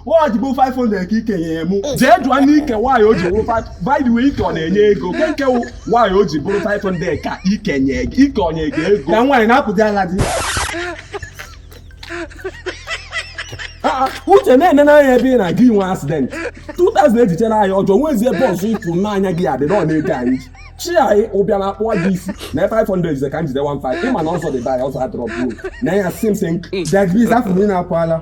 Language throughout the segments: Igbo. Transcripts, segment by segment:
o ji bụ 500 ka i kenyere mụ jee jụọ n'ike why o ji bụrụ by the way ike ọ na-enye ego kee nke why o ji bụrụ 500 ka ike nye gị ike o nye gị ego na nwaanyị na-apụdị ala di ah, ah, uche na-ene n'anya ebe ị na-aga inwe accident 2000 e ji cheere anyị ọjị nwezie bọọsụ ịpụ n'anya gị adị na ọ na-ego anyị chi anyị ụbịa na-akpụ gị isi na 500 ize ka m jide 15 ịma na ọzọ dị ba ya ọzọ adọrọ bụrụ na ya sim sim degriz afọ niile akwala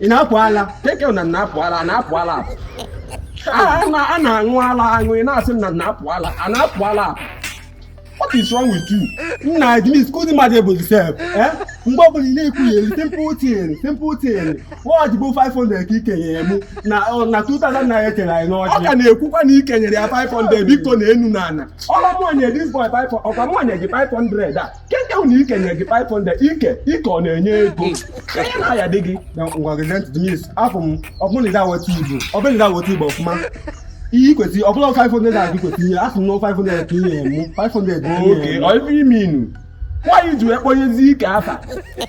ị na-apụ ala keke na na-apụ ala na-apụ ala a na-aṅụ ala aṅụ ị na-asị na na-apụ ala a na-apụ ala what is wrong with you nna dennis kụzi mmadụ ebozi sef eh? mgbe ọbụla ị na-ekwugheri simple thing simple thing why o ji bụ 500 ka i kenyere m na 2000 naira e cheere anyị n'ọjị ọ ka na-ekwukwa na ike nyere ya 500 biko na enu na ana ọ rọ mụ nye this boy ọ kwa mụ nye gị 500 a keke ahụ na ike nye gị 500 ike ike ọ na-enye ego onye na ya dị gị na ngwa gị dennis afọ m ọ bụ na ị da-awọta igbo ọ bụ na ị da-awọta igbo ọfụma ihe i kwesị ọ bụ na 500 a gị kwesị ihe asị m na 500 ka i nye mụ 500 bụ oke ọ ife ime inu why i ji wee kpọnyezi ike afa